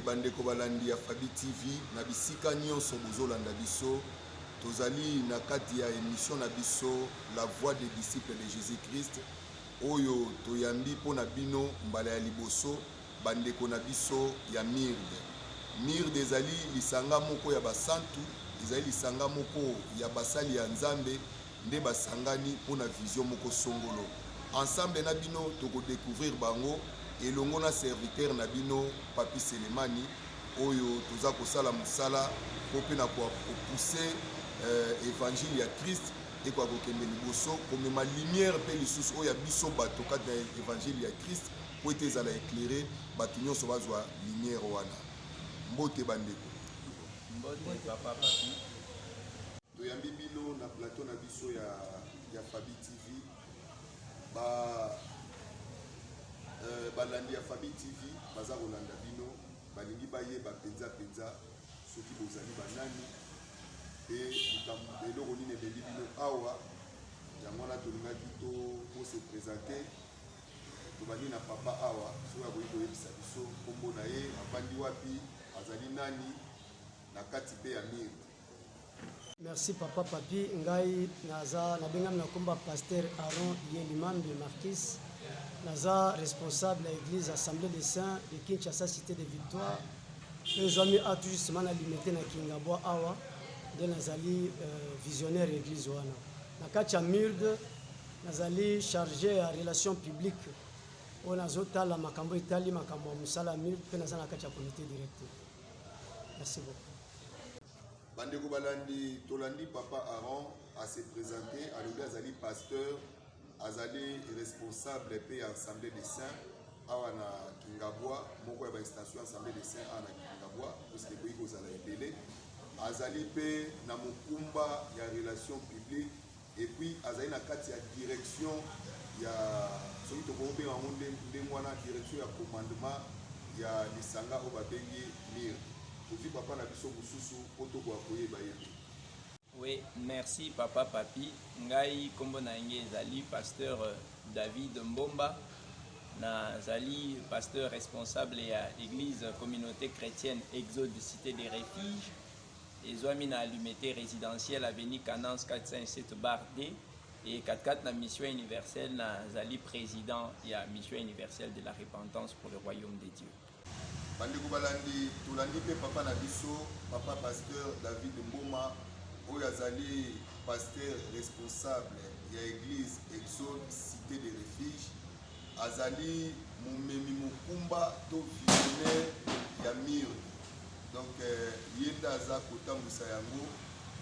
bandeko balandi ya fabi tv na bisika nyonso bozolanda biso tozali na kati ya emission na biso la voix des disciples de jésus christ oyo toyambi mpo na bino mbala ya liboso bandeko na biso ya mirde mirde ezali lisanga moko ya basantu ezali lisanga moko ya basali ya nzambe nde basangani mpo na vision moko songolo. Ensemble na bino, toko decouvrir bango elongo na serviteur na bino Papy Selemani oyo toza kosala mosala mpo mpe na ko pousser euh, evangile ya Christ ekoka kokende liboso komema lumière mpe lisusu oyo ya biso bato kati na evangile ya Christ mpo ete ezala éclairé bato nyonso bazwa lumière wana. Mbote bandeko. Mbote papa Papy. Toyambi bino na plateau na biso ya, ya Fabi TV ba euh, balandi ya Fabi TV baza kolanda bino, balingi bayeba mpenza mpenza soki bozali banani mpe likambo eloko nini ebeli bino awa. Yango wana tolingaki to kose presente tobandi na papa awa soki akoki koyebisa biso nkombo na ye, afandi wapi, azali nani na kati mpe ya mire Merci papa papi ngai naza nabengami na komba pasteur Aaron Yelimam de Marquis naza responsable ya église assemblée des saints de Kinshasa cité de victoire mpe ezwami a tout justement na limete na Kingabwa awa nde nazali euh, visionnaire ya église wana na kati ya MURD nazali chargé ya relation publique oyo nazotala makambo etali makambo ya mosala ya MURD mpe naza na kati ya comité directeur merci beaucoup bandeko balandi tolandi papa aron ase présente alobi azali pasteur azali responsable mpe ya assemblée de saint awa na kingabwa moko ya bainstallation ya assemblée de saint awa na kingabwa puisque ekoki kozala ebele azali mpe na mokumba ya relation publique et puis azali na kati ya direction ya soki tokoki kobenga yango ndenge wana direction ya commandement ya lisanga oyo babengi mir tozwi papa na biso mosusu mpo tokoka koyeba ye te Oui, merci papa papi ngai nkombo na yange ezali pasteur euh, david mbomba nazali pasteur responsable ya église communauté chrétienne exode cité des refuges ezwami na allumete residentielle avenue Canance 407 bar D et katikati na mission universelle nazali président ya mission universelle de la repentance pour le royaume de Dieu. bandeko balandi tolandi mpe papa na biso papa pasteur david mboma oyo azali pasteur responsable ya église exode cité de refuge azali momemi mokumba to visionnaire ya mur donc euh, ye nde aza kotambwisa yango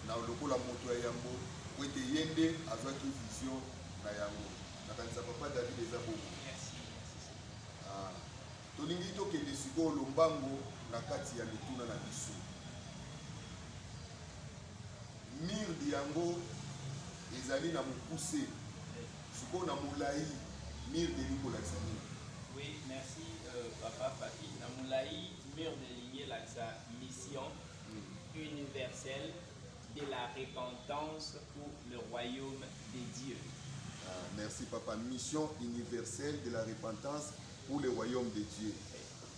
na lokola moto ya yambo po ete ye nde azwaki vision na yango nakanisa papa david eza bongo ah, tolingi tokende sikoyo lombango na kati ya mituna na biso Mirdi yango ezali na mokuse sikoyo na molai mirdi elingi kolakisa nini oui merci euh, papa papi na molai mirdi elingi elakisa mission mm. universelle de la repentance pour le royaume de dieu ah, merci papa mission universelle de la repentance pour le royaume de dieu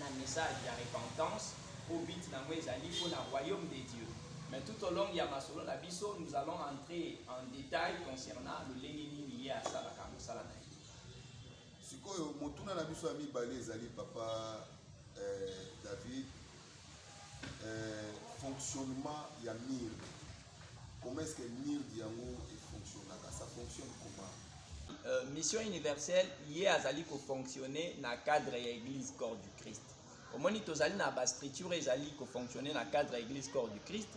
na message ya repentance au but na moi ezali pour la royaume de Dieu mais tout au long ya masolo na biso nous allons entrer en détail concernant lolenge nini ye asalaka mosala na ye sikoyo motuna na biso ya mibale ezali papa eh, david eh, fonctionnement ya mire Comment est-ce que MIRD yango e fonctionnaka? Ça fonctionne comment? Euh, mission universelle ye azali kofonctionne na cadre ya église corps du christ omoni tozali na bastructure ezali kofonctionne na cadre ya église corps du christ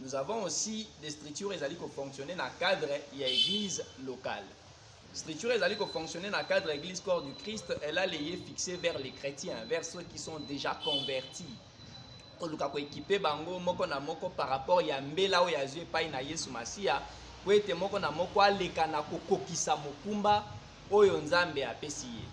nous avons aussi des structures ezali kofonctionne na cadre ya église locale structure ezali kofonctionne na cadre ya église corps du christ elle a leye fixé vers les chrétiens vers ceux qui sont déjà convertis koluka koekipe bango moko na moko par rapport ya mbela oyo azwi epai na yesu masiya po ete moko na moko aleka na kokokisa mokumba oyo nzambe apesi ye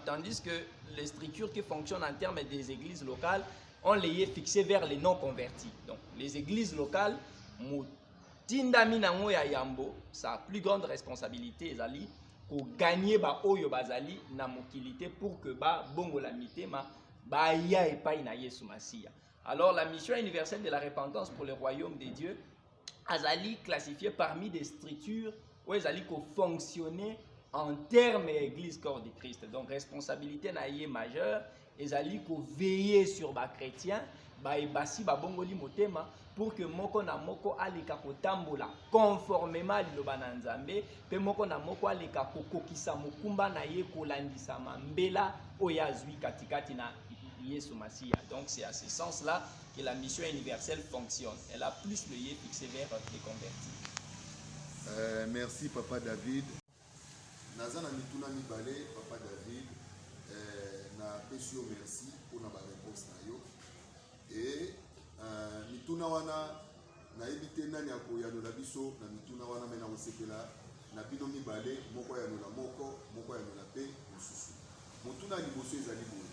tandis que les structures qui fonctionnent en termes des églises locales ont les fixé vers les non convertis donc les églises locales motindami nango ya yambo sa plus grande responsabilité ezali koganye baoyo bazali na mokili te pour que babongola mitema baya epai na yesu masiya alors la mission universelle de la repentance pour le royaume de dieu azali classifié parmi des structures oyo ezali kofonctionner en terme ya église corps de christ donc responsabilité na ye majeure ezali koveille sur bachrétien baye basi babongoli motema pour que moko na moko aleka kotambola conformément liloba na Nzambe pe moko na moko aleka kokokisa mokumba na ye kolandisama mbela oyo azwi katikati na Yesu Masiya. Donc c'est à ce sens-là que la mission universelle fonctionne. Elle a plus le lieu fixé vers les convertis. Euh, merci Papa David. Naza na mituna mibale papa David eh, napesi yo merci mpona bareponse na yo e uh, mituna wana nayebi te nani akoyanola biso na mituna wana me nakosepela na bino mibale moko ayanola moko moko ayanola mpe mosusu motuna ya liboso ezali boye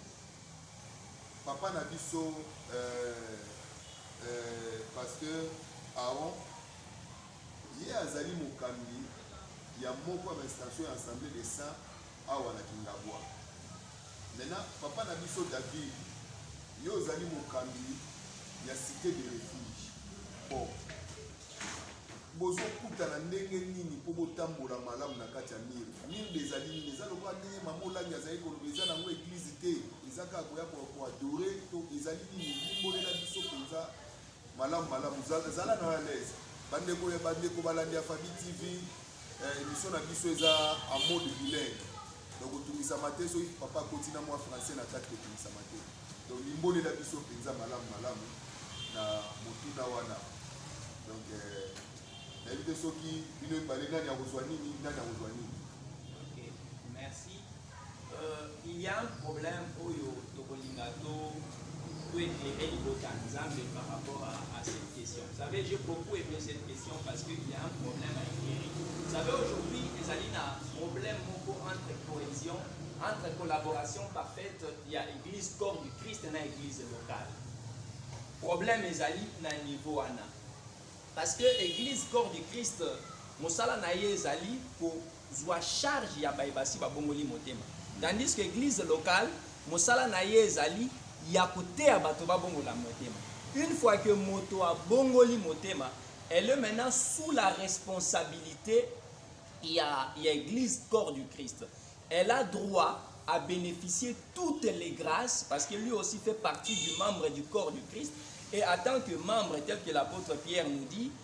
papa na biso eh, eh, pasteur aron Ye azali mokambi ya moko ya ba instantions ya Assemblee des Saints awa na Kingabwa. Maintenant, papa na biso David, yo ozali mokambi ya cite de refuge. Bon, bozokutana ndenge nini mpo botambola malamu na kati ya mire? Mire ezali nini? Eza lokola ndenge mama Olangi azali koloba, eza nango eglise te, eza kaka koya koadore to ezali nini? Limbolela biso mpenza Malamu malamu, zala zala na à l'aise. Bandeko ya bandeko balandi ya Fabi TV, eh, émission na biso eza en mode bilingue. Donc otungisama te soki papa akoti na mwa français na kati kotungisama te. Donc limbolela biso mpenza malamu malamu na motuna wana. Donc eh, nayebi te soki bino ebale nani akozwa nini, nani akozwa nini. Ok, merci. il y a un problème oyo tokolinga to toete e libota nzambe par rapport à, à cette question vous savez j'ai beaucoup aimé cette question parce qu'il y a un problème à éclairer vous savez aujourd'hui ezali na problème moko entre cohésion entre collaboration parfaite ya église corps du christ na église locale problème ezali na niveau wana parce que église corps du christ mosala na ye ezali ko zua charge ya baye basi babongoli motema tandis que eglise locale mosala na ye ezali ya koteya bato babongola motema une fois que moto abongoli motema elle est maintenant sous la responsabilité ya, ya église corps du christ elle a droit à bénéficier toutes les grâces parce que lui aussi fait partie du membre du corps du christ et en tant que membre tel que l'apôtre pierre nous dit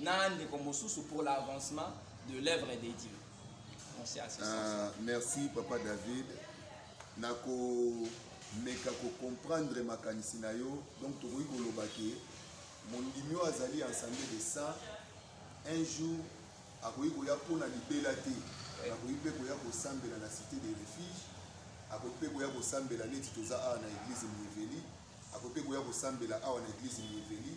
na ndeko mosusu pour l'avancement de l'œuvre de Dieu. Merci à ce ah, Merci papa David. Nako meka ko comprendre makanisi na yo donc tokoki koloba ke mondimi oyo azali ensemble de ça un jour akoki koya mpo na libela te akoki mpe koya kosambela na cité de refuge akoki mpe koya kosambela neti toza awa na église mieveli akoki mpe koya kosambela awa na église mieveli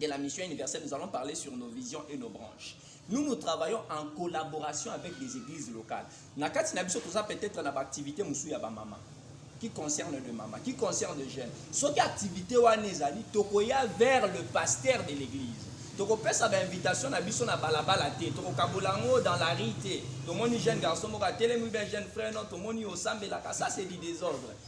de la mission universelle, nous allons parler sur nos visions et nos branches. Nous, nous travaillons en collaboration avec des églises locales. Nakati Nabiso, tout ça peut-être dans l'activité Moussou Yaba Mama, qui concerne le Mama, qui concerne le jeune. Ce qui activité Wanezali, Tokoya vers le pasteur de l'église. tokopesa bainvitation na biso na balabala te tokokabola yango dans la rue te tomoni jeune garçon moko atelemi bien jeune frère no tomoni osambelaka ça c'est du désordre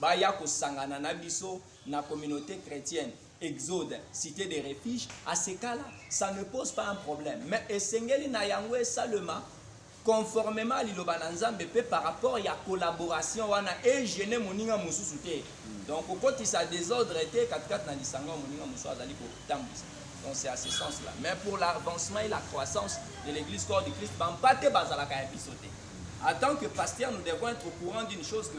baya kosangana na biso na communauté chrétienne exode cité de refuge asekala ça ne pose pas un problème mais esengeli na yango esalema conformément liloba na nzambe mpe par rapport ya collaboration wana egene moninga mosusu te donc kokotisa désordre te katikati na lisanga ya moninga mosusu azali kotambwisa donc c'est à ce sens là mais pour l'avancement et la croissance de l'église corps du christ bampate bazalaka ya biso te en tant que pasteur nous devons être au courant d'une chose que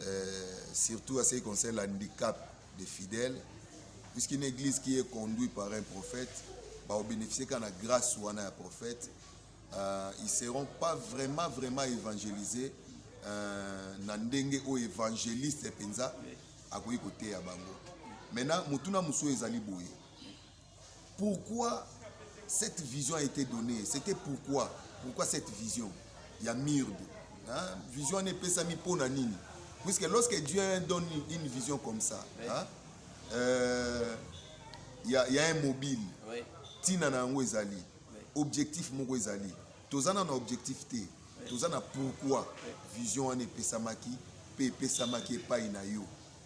euh, surtout à ce qui concerne l'handicap des fidèles, puisqu'une église qui est conduite par un prophète, bah, au bénéficier qu'on a grâce ou un prophète, euh, ils ne seront pas vraiment, vraiment évangélisés. Euh, na ndenge au évangéliste penza akoki koteya bango maintenant motuna mosusu ezali boye Pourquoi cette vision a été donnée C'était pourquoi Pourquoi cette vision ya mirde hein? Vision wana epesami mpo na nini Puisque lorsque Dieu donne une vision comme ça, il hein, euh, y, a, y a un mobile. Oui. Tina na yango ezali. Oui. Objectif moko ezali. Toza na objectif te. Oui. Toza na pourquoi oui. vision wana epesamaki mpe epesamaki epai na yo.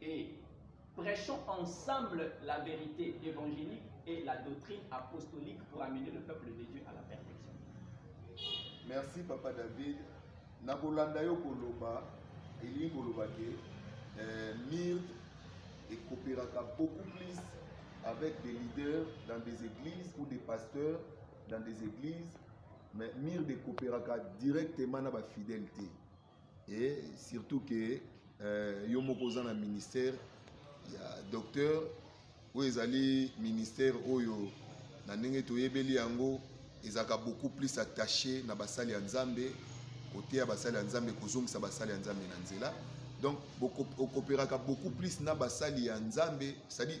et prêchons ensemble la vérité évangélique et la doctrine apostolique pour amener le peuple de Dieu à la perfection. Merci Papa David. Nakolanda yo koloba elingi koloba ke euh, MIRT ekopelaka beaucoup plus avec des leaders dans des églises ou des pasteurs dans des églises mais MIRT ekopelaka directement na bafidèle te. et surtout que euh, yo moko oza na ministère ya docteur oyo ezali ministère oyo na ndenge toyebeli yango ezalaka beaucoup plus attaché na basali ya nzambe koteya basali ya nzambe kozongisa basali ya nzambe na nzela donc okopelaka beaucoup plus na basali ya nzambe cestadire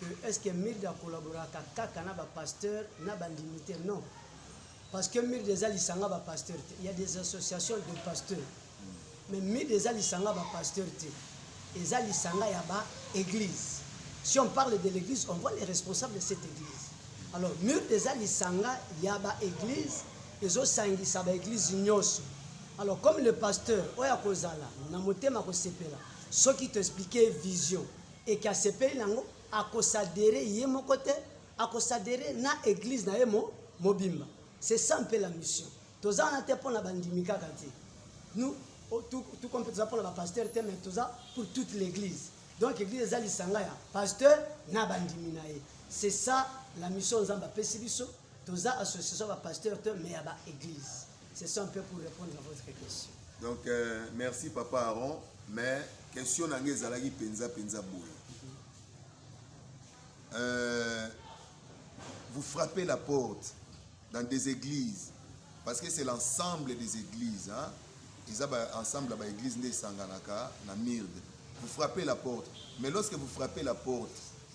que est ce que Mird a collaboraka kaka na ba pasteurs na ba ndimi te non parce que Mird eza lisanga ba pasteurs te il y a des associations de pasteurs mais Mird eza lisanga ba pasteurs te eza lisanga ya ba église si on parle de l'église on voit les responsables de cette église alors Mird eza lisanga ya ba église ezosangisa ba église nyonso alors comme le pasteur oyo akozala na motema kosepela soki to expliquer vision et que asepeli nango ako s'adhérer ye moko te ako s'adhérer na église na ye mo mobimba c'est ça mpe la mission toza wana te mpo na bandimi kaka te nous oh, tout comme toza mpo na bapasteur te mais toza pour toute l'église donc église eza lisanga ya pasteur na bandimi na ye c'est ça la mission nzambe apesi biso toza association ba pasteur te mais ya ba église c'est ça un peu pour répondre à votre question donc euh, merci papa Aaron mais question na ngai ezalaki mpenza mpenza boye euh, vous frappez la porte dans des églises parce que c'est l'ensemble des églises hein? eza ba ensemble ya baeglise nde esanganaka na mirde vous frappez la porte mais lorsque vous frappez la porte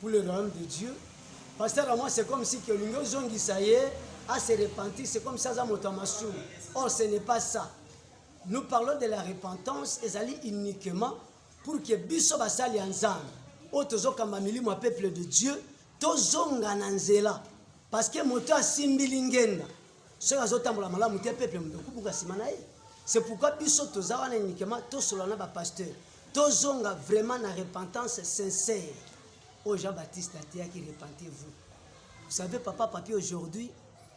pour le royaume de Dieu. Pasteur à moi c'est comme si que olingi ozongisa ye a se repentir, c'est comme ça aza moto ya masumu. Or ce n'est pas ça. Nous parlons de la repentance ezali uniquement pour que biso basali ya Nzambe oyo tozokamba milimo ya peuple de Dieu tozonga na nzela parce que moto asimbi lingenda soki azotambola malamu te peuple moto okubuka nsima na ye c'est pourquoi biso toza wana uniquement tosolola na bapasteur tozonga vraiment na repentance sincère oyo jean baptiste ateyaki repentez vous vous savez papa papi aujourd'hui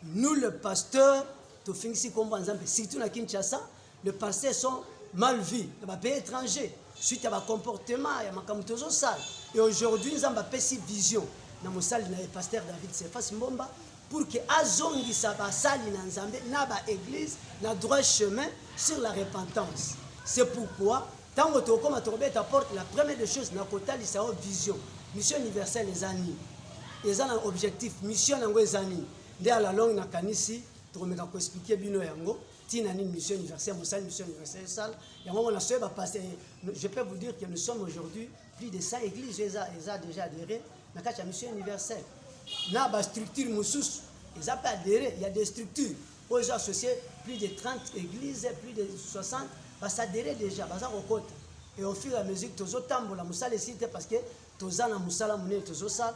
nous le pasteur tofingisi nkombo ya nzambe surtout na kinshasa de passer son mal vie na bapays étranger suite ya bacomportement ya makambo tozosala et aujourd'hui nzambe apesi vision na mosali na ye paster david sefas mbomba pour que azongisa basali na nzambe na baeglise na droit chemin sur la repentance c'est pourquoi ntango tokokoma tokobeta porte la première des choses na kotalisa yo vision mission universelle eza nini eza na objectif mission yango eza nini nde alalonge nakanisi tokomeka koexplike bino yango ntina nini mission universelle mosali mission universelle esala yango ngo nasoye bapaste eh, je peux vous dire que nous sommes aujourd'hui plus de 100 églises eza, eza déjà adhéré na kati ya mission universelle na bastructure mosusu eza mpe adhéré ya des structures oyo ezo associe plus de 30 églises plus de 60 basadhéré déjà baza kokota et au fur et à mesure tozotambola mosala esili te parce que toza na mosala monene tozosala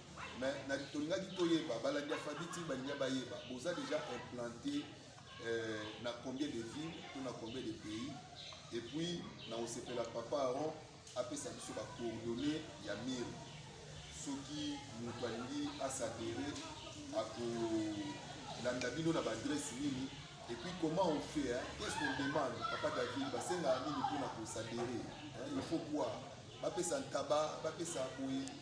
mais na tolingaki toyeba balandi ya fabiti balinga bayeba boza déjà implanté euh, na combien de villes to na combien de pays et puis na osepela papa aron apesa biso ba coordonnées ya mire soki moto alingi asadere akolanda bino na baadresse nini et puis comment on fait hein? qu'est-ce qu'on demande papa david basengaka nini mpona kosadere il faut quoi bapesa ntaba bapesa boye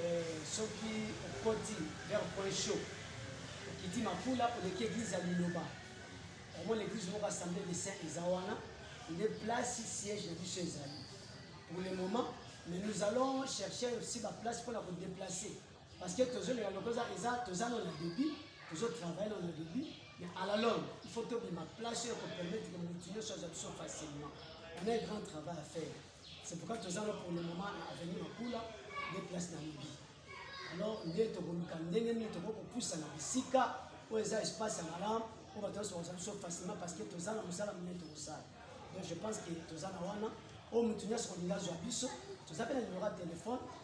Eh, soki okoti vers point chaud okiti makula oleki eglise ya liloba omona eglise moko assemblée de saint eza wana nde place siège na biso ezali pour le moment mais nous allons chercher aussi baplace mpona kodeplace parce que tozolela loko eza toza no na début tozotravaille no na début mais à la longue il faut tobima place oyo ekopermettre motu nyonso azwa biso facilement on a un grand travail à faire C'est pourquoi toza là pour le moment na avenue Makula nde place na Libye. Alors nde tokoluka ndenge nini tokoki kopusa na bisika oyo eza espace ya malamu oyo bato nyonso bakozala biso facilement parce que toza na mosala monene tokosala. Donc je pense que toza na wana oyo moto nyonso kolinga azwa biso toza mpe na nimero ya telefone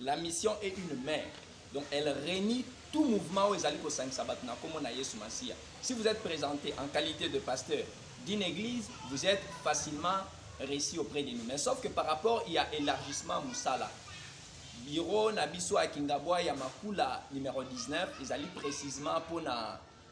La mission est une mère. Donc elle réunit tout mouvement où ezali kosangisa bato na kombo na Yesu Masiya. Si vous êtes présenté en qualité de pasteur d'une église, vous êtes facilement reçu auprès de nous. Mais sauf que par rapport il y a élargissement musala. Bureau na biso à Kingabwa ya Makula numéro 19 ezali précisément pour na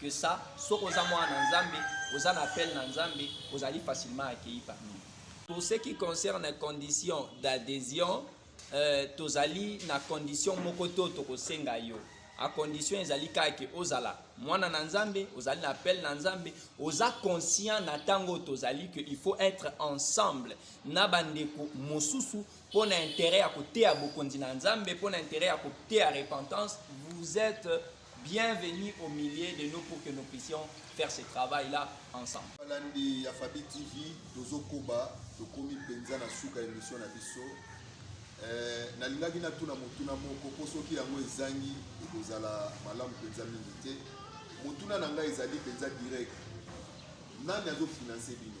que ça soki oza mwana na nzambe oza na appel na nzambe ozali facilement accueilli parmi pour ce qui concerne condition d'adhésion euh, tozali na condition moko to tokosenga yo a condition ezali kaka ke ozala mwana na nzambe ozali na appel na nzambe oza conscient na ntango tozali ke il faut être ensemble na bandeko mosusu mpo na intérêt ya koteya bokonzi na nzambe mpo na intérêt ya koteya repentance vous êtes Bienvenue au milieu de nous pour que nous puissions faire ce travail là ensemble. Balandi ya Fabi TV tozokoba tokomi mpenza na suka ya emission na biso. Eh, nalingaki natuna motuna moko mpo soki yango ezangi ekozala malamu mpenza mingi te. Motuna na ngai ezali mpenza direct, nani azofinanse bino?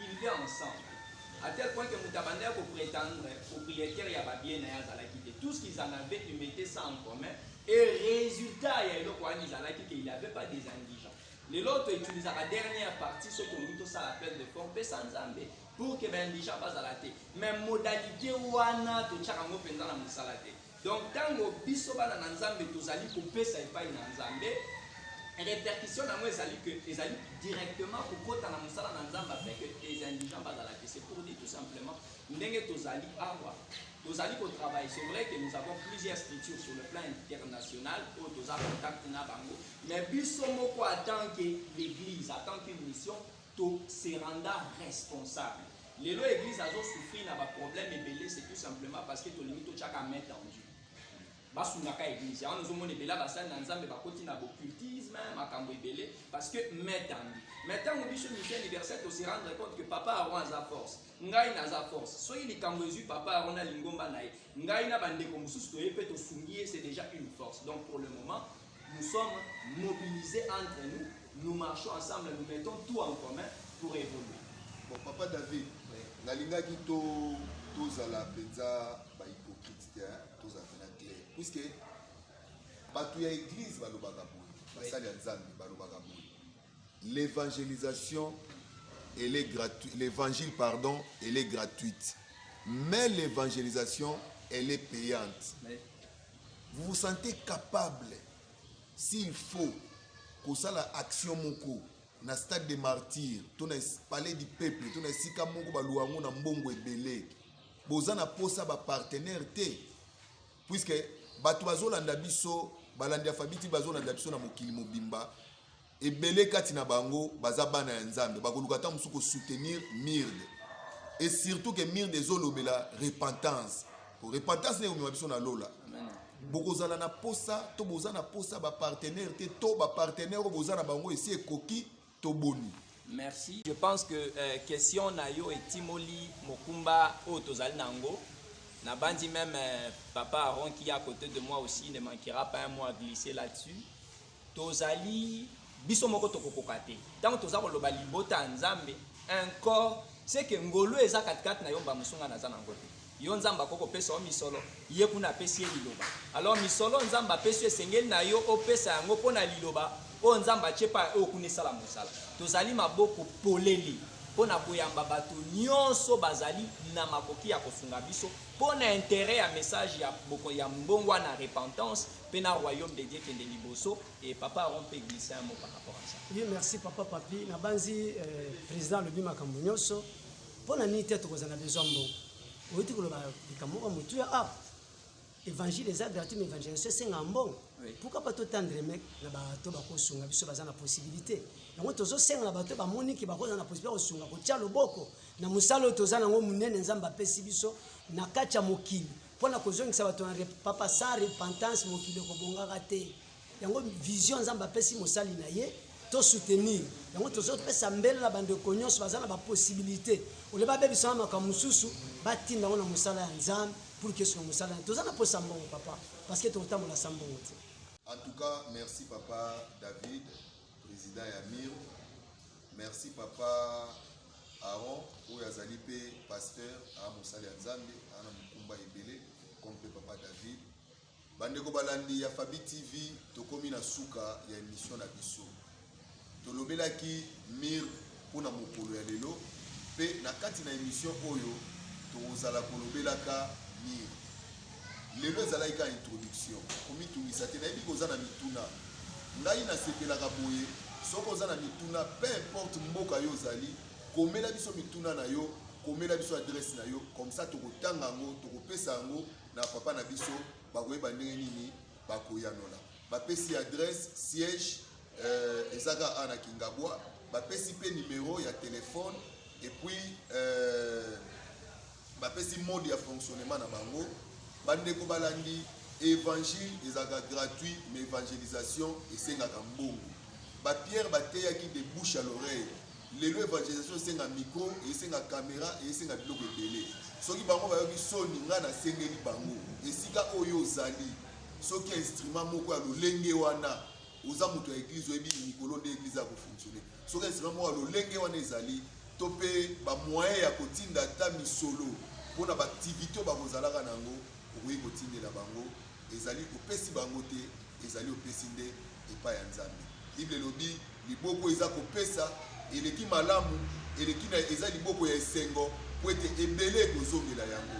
Il vivait ensemble. À tel point que Mutabanda ko prétendre propriétaire ya ba bien na ya zalaki te. Tout ce qu'ils en avaient, ils mettaient ça en commun. Et résultat ya eloko wana ezalaki que il avait pas des indigents. Lelo to utilisa la dernière partie ce que nous ça l'appel de forme pe sans zambe pour que ben indigents pas à la tête. Mais modalité wana to tchaka ngo penza na musala te. Donc tango biso bana na Nzambe tozali kopesa epai na Nzambe, repercussion nango ezali que ezali directement kokota na mosala na Nzambe afin que les indigents bazala que c'est pour dire tout simplement ndenge tozali awa tozali kotravaille c'est vrai que nous avons plusieurs structures sur le plan international oyo toza contact na bango mais biso moko atant que l'église atant qu'une mission To se renda responsable. Lelo église azo souffrir na ba problèmes ebele c'est tout simplement parce que tolingi to chaka main tendue. basungaka église yango nazomona ebele basali na nzambe bakoti na bocultisme makambo ebele parce que main tendue mais ntango biso misi anniversaire tosi rendre compte que papa aron aza force ngai naza force soki likambo ezwi papa aron na lingomba na ye ngai na bandeko mosusu toye mpe tosungi ye c'est déjà une force donc pour le moment Nous sommes mobilisés entre nous, nous marchons ensemble, nous mettons tout en commun pour évoluer. Bon, Papa David, oui. nalingaki to tozala mpenza bahypocrite te tozala mpena clair puiske bato ya eglize balobaka boye basali ya nzambe balobaka boye L'evangelisation elle est gratuite. L'évangile pardon, elle est gratuite. Mais l'évangélisation elle est payante. Vous vous sentez capable s'il faut kosala action moko na stade de martyr to na palais du peuple to na esika moko baluwa yango na mbongo ebele boza na mposa bapartenaire te puiske bato bazolanda biso balandi ya fabiti bazolanda biso na mokili mobimba Ebele kati na bango baza bana ya Nzambe, bakoluka ntango mosusu kosoutenir MIRD et surtout que MIRD ezolobela repentance po repentance nde ekomema biso na lola. Bokozala na posa to boza na posa bapartenaire te to bapartenaire oyo boza na bango esi ekoki to boni Merci. Je pense que euh, question na yo etimoli mokumba oyo tozali na yango. Nabandi même euh, papa Aaron qui est à côté de moi aussi ne manquera pas un mot à glisser là-dessus. tozali biso moko tokokoka te ntango toza koloba libota ya nzambe un corps seke ngolu eza katikati na yo mba mosunga naza na yango te yo nzambe akoki kopesa yo misolo ye kuna apesi ye liloba alors misolo nzambe apesi yo esengeli na yo opesa yango mpo na liloba oyo nzambe atye pa oyo kuna esala mosala tozali maboko polele mpo na koyamba bato nyonso bazali na makoki ya kosunga biso mpo na intere ya message ya, ya mbongwana repentance Pe na royaume de Dieu kende liboso et papa Aaron pe glisser un mot par rapport à ça. Oui, merci papa papi. Na banzi euh, président lobi makambo nyonso. Pona nini te tokoza na besoin mbongo. Oyiti koloba likambo moko mutu ya ah évangile eza gratuit mais évangélisation esenga mbongo Oui. pourquoi pas totandre mec na bato bakosunga biso baza na possibilité yango tozosenga na bato bamoni ke bakoza na possibilité ya kosunga kotya loboko na mosala oyo toza nango monene nzambe apesi biso na kati ya mokili mpo na kozongisa bato na papa sa repentance mokili ekobongaka te yango vision nzambe apesi mosali na ye tosoutenir yango tozopesa mbele na bandeko nyonso baza na bapossibilité ole babebisa na makambo mosusu batinda yango na mosala ya nzambe pour que sona mosala ya toza na mposa mbongo papa parce que tokotambola sa mbongo te en tout cas merci papa david Président ya Miro. Merci papa Aaron oyo azali mpe pasteur a mosali ya Nzambe ana mokumba ebele comme mpe papa David. Bandeko balandi ya Fabi TV tokomi na suka ya émission na biso. Tolobelaki Miro mpo na mokolo ya lelo, mpe na kati na emission oyo tokozala kolobelaka nini lelo. Ezalaki ka introduction, komitungisa te. Nayebi koza na mituna, ngai nasepelaka boye. Soki oza na mituna, peu importe mboka yo ozali, komela biso mituna na yo, komela biso adresse na yo, comme ça tokotanga yango, tokopesa yango na papa na biso, bakoyeba ndenge nini bakoyanola. Bapesi adresse siège euh, eza kaka awa na kingabwa bapesi mpe numero ya telefone epuis euh, bapesi mode ya fonctionnement na bango bandeko balandi évangile ezalaka gratuit mais évangélisation esengaka mbongo bapierre bateyaki de bouche à l'oreille lelo évangélisation esenga micro esenga caméra esenga biloko ebele soki bango bayoki soni ngai nasengeli bango esika oyo ozali soki instrument moko ya lolenge wana oza moto ya eglize oyebi mikolo nde eglize ya kofonctionne soki esika moko ya lolenge wana ezali to mpe bamoyen ya kotinda ata misolo mpo na baaktivité oyo bakozalaka na yango okoki kotindela bango ezali opesi bango te ezali opesi nde epai ya nzambe bible elobi liboko eza kopesa eleki malamu eleki na eza liboko ya esengo mpo ete ebele ekozongela yango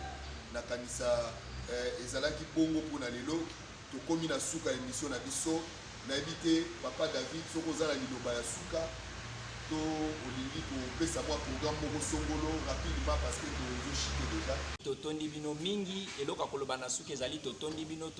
nakanisa eh, ezalaki bongo mpo na lelo Tokomi na suka ya emission na biso. Nayebi te papa David soki oza na liloba ya suka to olingi kopesa mwa programme moko songolo rapidement parce que tozo chite deja. Totondi bino mingi. Eloko ya koloba na suka ezali totondi bino,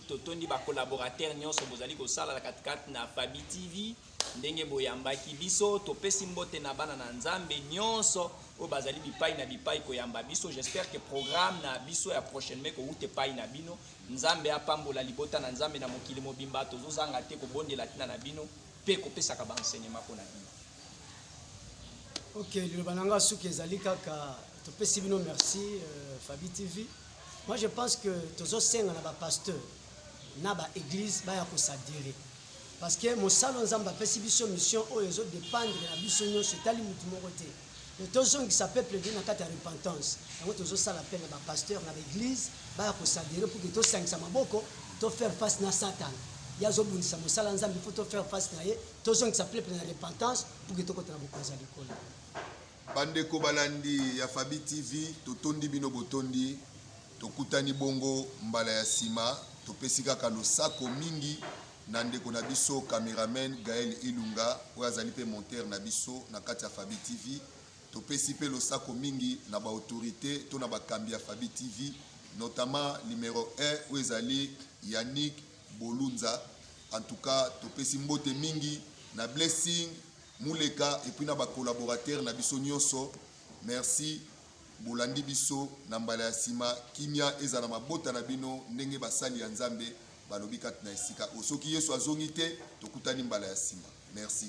totondi ba collaborateurs nyonso bozali kosala na katikati na Fabi TV ndenge boyambaki biso. Topesi mbote na bana na Nzambe nyonso oyo bazali bipai na bipai koyamba biso. J'espère que programme na biso ya prochainement ekowuta epai na bino. Nzambe apambola libota na Nzambe na mokili mobimba. Tozozanga te kobondela ntina na bino mpe kopesaka ba enseignement mpo na bino. Ok, liloba na nga suki ezali kaka topesi bino merci euh, Fabi TV. Moi je pense que tozosenga na ba pasteur na ba église baya kosadere parce que mosala nzambe apesi biso mission oyo ezodépendre na biso nyonso etali motu moko te Mais tozongisa peuple nde na kati ya repentance yango tozosala appel na bapasteur na baeglise baya kosadere pour ke tosangisa maboko to faire face na satan ye azobundisa mosala nzambe faut to faire face na ye tozongisa peuple na repentance pour ke tokota na bokonzi ya likolo bandeko balandi ya fabi tv totondi bino botondi tokutani bongo mbala ya nsima topesi kaka losako mingi na ndeko na biso cameraman Gaël Ilunga oyo azali mpe monteur na biso na kati ya Fabi TV. Topesi mpe losako mingi na ba autorite to na bakambi ya Fabi TV, notamment numero 1 oyo ezali Yannick Bolunza. En tout cas, topesi mbote mingi na Blessing Muleka epuis na ba collaborateurs na biso nyonso. Merci bolandi biso na mbala ya nsima. Kimia ezala mabota na bino ndenge basali ya Nzambe balobi kati na esika oyo soki yesu azongi te tokutani mbala ya nsima merci